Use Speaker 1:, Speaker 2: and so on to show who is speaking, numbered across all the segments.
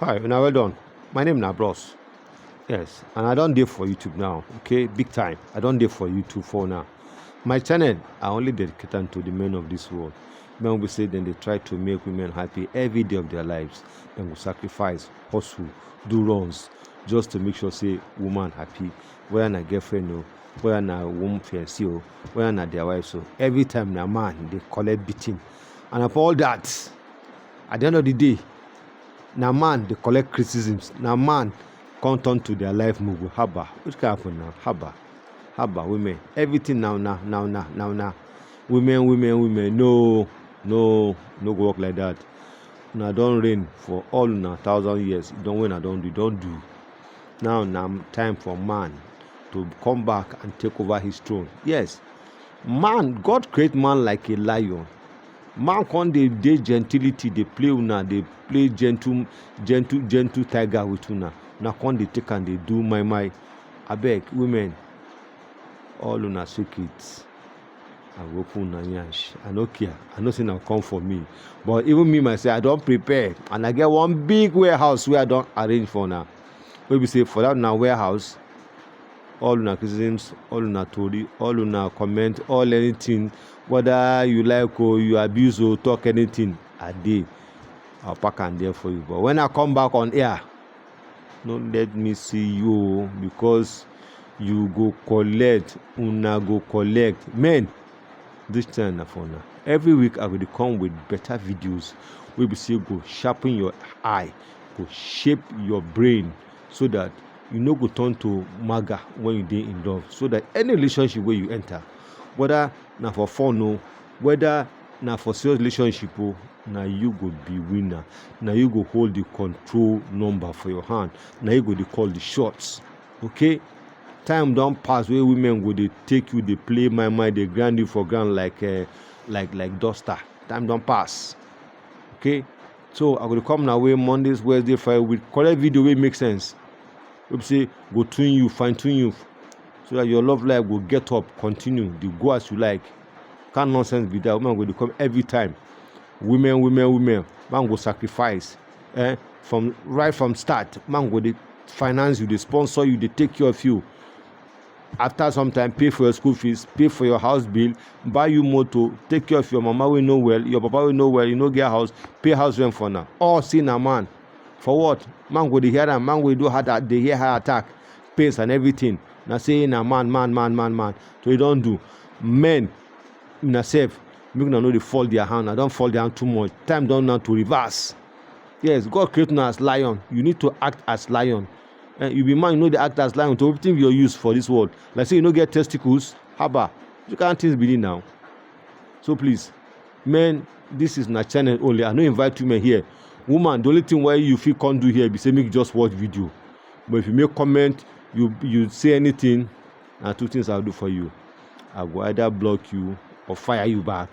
Speaker 1: Hi, una well done. My name na Bros. Yes, and I don dey for YouTube now, okay? Big time. I don dey for YouTube for now. My channel, I only dedicate am to the men of this world. Men will say then they try to make women happy every day of their lives. Then will sacrifice, hustle, do runs, just to make sure say woman happy. Whether na girlfriend o, whether na woman fiancé o, whether na their wife so. Every time na man dey collect beating, and of all that at the end of the day na man dey collect criticisms na man come turn to their life mugu haba which kind of na haba haba women everything na una na una na una women women women no no no go work like that una don reign for all una thousand years don wey una don do don do now na time for man to come back and take over his throne yes Man, God create man like a lion. Man come dey dey gentility dey play una dey play gentle gentle gentle tiger with una. Una come dey take am dey do my my. Abeg women all una secret I go open una yansh. I no care. I know say una come for me. But even me myself I don prepare and I get one big warehouse wey I don arrange for una. Wey be say for that una warehouse all una criticisms all una tori all una comment all anything whether you like o you abuse o talk anything i dey i pack am there for you but when i come back on air no let me see you o because you go collect una go collect men this time na for una every week i go dey come with better videos wey be say go sharpen your eye go shape your brain so that you no go turn to maga when you dey in love so that any relationship wey you enter whether na for fun o whether na for serious relationship o na you go be winner na you go hold the control number for your hand na you go dey call the shots okay time don pass wey women go dey take you dey play my mind dey grind you for ground like uh, like like duster time don pass okay so i go dey come na way mondays wednesday friday with correct video wey make sense wey be say go tune you fine tune you so that your love life go get up continue dey go as you like kind nonsense be that woman go dey come every time women women women man go sacrifice eh from right from start man go dey finance you dey sponsor you dey take care of you after some time pay for your school fees pay for your house bill buy you motor take care of your mama wey no well your papa wey no well you no get house pay house rent for now all see na man for what man go dey hear am man go do heart a- dey hear heart attack pains and everything na say na man man man man man so e don do men una sef make una no dey fall their hand una don fall their hand too much time don now to reverse yes god create una as lion you need to act as lion eh, you be man you no dey act as lion to wetin be your use for this world like say you no get testicles haba you can't things be now so please men this is na channel only i no invite women here woman the only thing wey you fit come do here be say make you just watch video but if you make comment you you say anything na two things i go do for you i go either block you or fire you back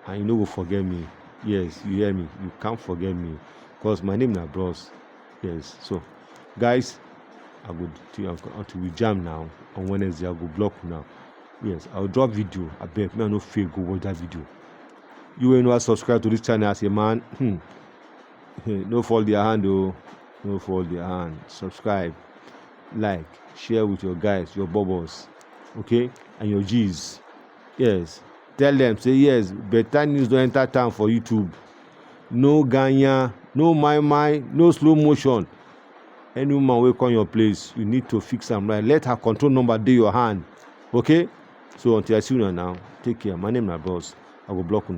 Speaker 1: and you no go forget me yes you hear me you can't forget me because my name na bros yes so guys i go do am until we jam now on wednesday i go block now yes i will drop video I beg, me i no fail go watch that video you wey never subscribe to this channel as a man hmm, hmm no fall their hand oh, no fall their hand subscribe like share with your guys your bubbles okay and your g's yes Tell dem say yes better news don enter town for YouTube. No ganyan, no my my, no slow motion. Any woman wey come your place, you need to fix am right. Let her control number dey your hand. Okay? So until I see una now, take care. My name na Bros. I go block una.